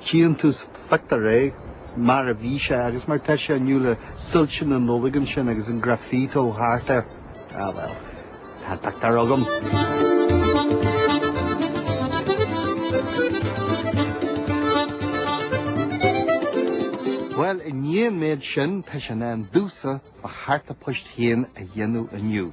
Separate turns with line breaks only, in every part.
déantús factory, mar a bhí sé, agus mar tá sé inniu le soilse na Nollag ansin agus an graffito thart air. Ah bhuel, tá pictiúr agam. Bhuel, i ndiaidh an méid sin, tá sé in am domhsa mo chárta poist féin a dhéanamh inniu.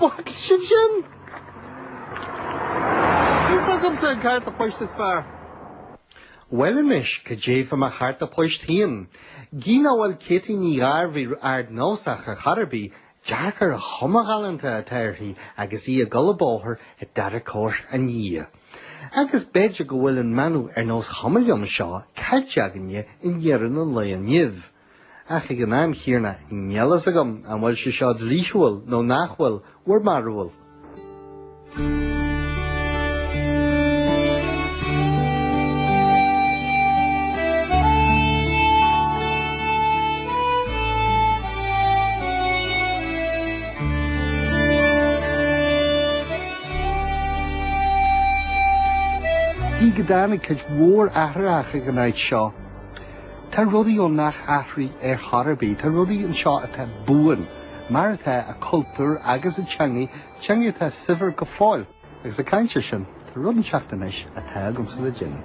Bhfeiceann sibh sin? Is agamsa an cárta poist is fearr. Bhuel anois, cad é fá mo chárta poist féin? Gidh nach bhfuil Katie Ní Ghairbhith ardnósach ar chor ar bith, dearc ar an chuma ghalánta atá uirthi agus í ag dul an bóthar i dtarracóir an fhia. Agus b'fhéidir go bhfuil an manadh ar nós chuma liom seo caillte againne in Éirinn an lae inniu. Ach ag an am chéanna, níl a fhios agam an bhfuil sé seo dlíthiúil nó nach bhfuil, bhur mbarúil? Gidh go dtáinig cuid mhór athrach ar an áit seo, Tá rudaí ann nach athraíonn ar chor ar bith. Tá rudaí anseo atá buan, mar atá, a cultúr agus a teangaidh, teangaidh atá saibhir go fóill. Agus ag caint ar sin, tá rud inteacht anois atá agamsa le déanamh.